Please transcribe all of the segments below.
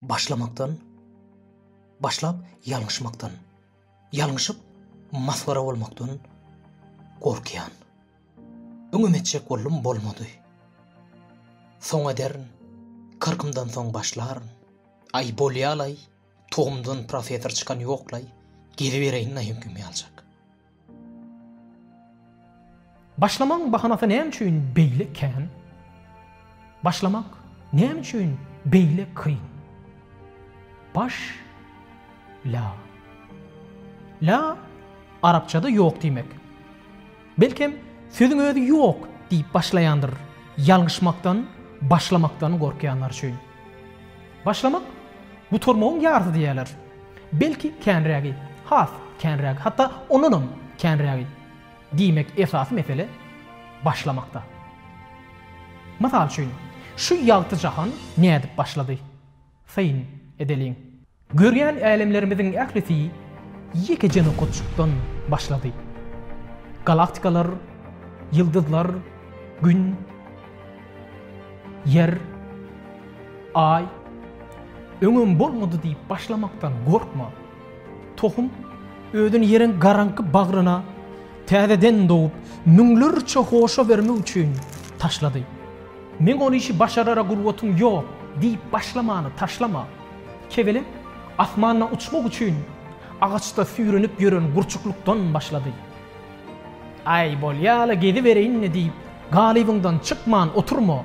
Başlamakdan, başlap ýalňyşmakdan, ýalňyşyp masgara bolmakdan gorkýan. Öňem etjek boldum bolmady. Soň ederin, kyrkymdan soň başlaryn. Aý bolýalaý, togumdan professor çykan ýoklaý, gelibereýin naýynkym ýaljak. Başlamagyň bahanasy näme üçin beýle kän? Başlamak näme üçin beýle kyn? Baş la. La arapçada ýok diýmek. Belkem sözüň özi ýok diýip başlaýandyr, ýalňyşmakdan, başlamakdan gorkýanlar üçin. Başlamak, gutarmagyň ýarysy diýerler. Belki känrägi, has känrägi, hatda ondanam känrägi. Diýmek, esasy mesele başlamakda. Mysal üçin, şu ýagty jahan nädip başlady? Syn edeliň. Görýän älemlerimiziň ählisi ýekeje nokatjykdan başlady. Galaktikalar, ýyldyzlar, Gün. Ýer, Aý, öňem bolmady diýip başlamakdan gorkma. Tohum özüni ýeriň garaňky bagryna täzeden dogup, müňlerçe hoşa bermek üçin taşlady. Men ol işi başarara gurbatyň ýok diýip başlamany taşlama. Kebelek asmanda uçmak üçin agaçda süýrenip ýören gurçuklykdan başlady. Äý, bolýa-la, gezibereýin-le diýip, galybyňdan çykman oturma.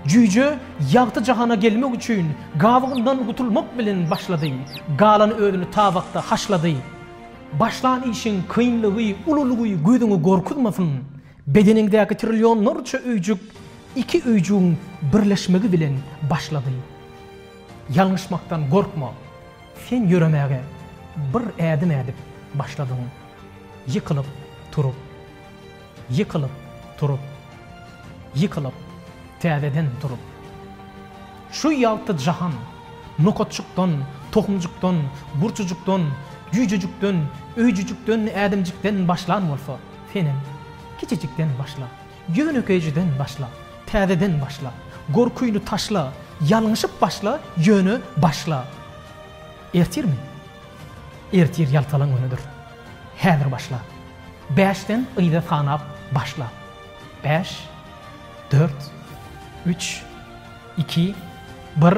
Jüýje ýagty jahana gelmek üçin gabygyndan gutulmak bilen başlady, galan özüni tabakda haşlady. Başlan işiň kynlygy, ululygy gözüňe gorkuzmasyn. Bedeniňdäki trillionlarça öýjük iki öýjügiň birleşmegi bilen başlady. Ýalňyşmakdan gorkma. Sen ýöremäge bir ädim ädip başladyň. Ýykylyp turup, ýykylyp turup, ýykylyp, täzeden turup. Şu ýagty jahan, nokatjykdan, tohumjykdan, gurçujykdan, jüýjejikden, öýjüjikden, ädimjikden başlan bolsa, senem kiçijikden başla. Ýönekeýjiden başla, täzeden başla, Gorkyny taşla, ýalňyşyp başla, Ýöne başla. Ertirmi? Ertir ýaltalan günüdir. Häzir başla. Bäşden yza sanap başla. Bäş, dört, üç, iki, bir.